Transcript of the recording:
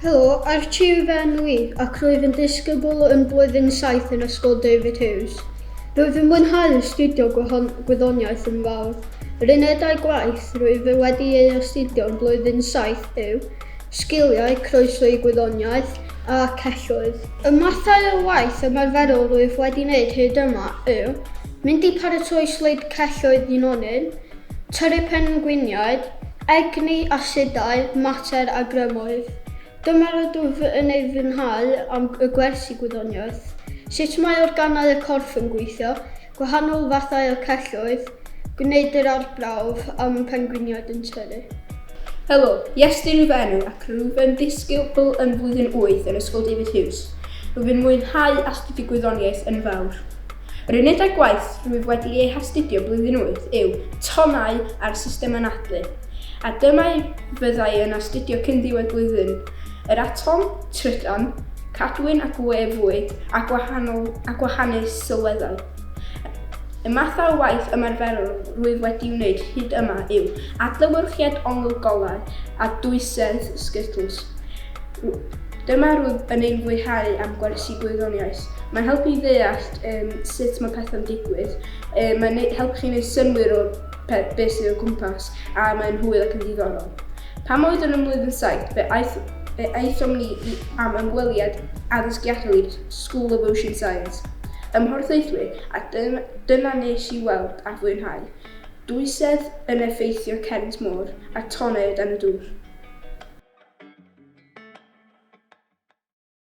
Helo, Archie yw fy enw i, ac rwyf yn disgybl yn blwyddyn 7 yn Ysgol David Hughes. Rwyf yn mwynhau astudio gwyddoniaeth yn fawr. Yr unedau gwaith rwyf wedi ei astudio yn blwyddyn 7 yw sgiliau croeso i gwyddoniaeth a celloedd. Y mathau o waith ymarferol rwyf wedi wneud hyd yma yw Mynd i paratoi sleid celloedd Ynonyn, tyrru pengliniaid, egni, asidau, mater a grymoedd. Dyma rydw fy yn ei fwynhau am y gwersi gwyddoniaeth. Sut mae organau y corff yn gweithio, gwahanol fathau o celloedd, gwneud yr arbrawf am y pengliniaid yn tyrru. Helo, Iestyn yw fy enw ac rwyf yn ddisgybl yn flwyddyn wyth yn Ysgol David Hughes. Rwyf yn mwynhau astudio gwyddoniaeth yn fawr. Yr unedau gwaith rwyf wedi eu hastudio blwyddyn wyth yw tonnau a'r system anadlu, a dyma i fyddai yn astudio cyn ddiwedd blwyddyn, yr atom, trydan, cadwyn ac we fwyd a gwahanol a gwahanu sylweddau. Y math o waith ymarferol rwyf wedi wneud hyd yma yw adlewyrchiad ongl golau a dwysedd Skittles. Dyma rwyf yn ein fwyhau am gwersi gwyddoniaeth. Mae'n helpu i ddeall um, sut mae pethau'n digwydd, um, mae'n helpu chi wneud synwyr o beth sydd o gwmpas, a mae'n hwyl ac yn ddiddorol. Pan oedd yn ymwyd yn saith, fe aeth Fe aethom ni i am ymweliad addysgiadol i'r School of Ocean Science. Ym Mhorthaethwy, a dyna nes i weld a fwynhau, dwysedd yn effeithio cerrynt môr, a tonnau o dan y dŵr.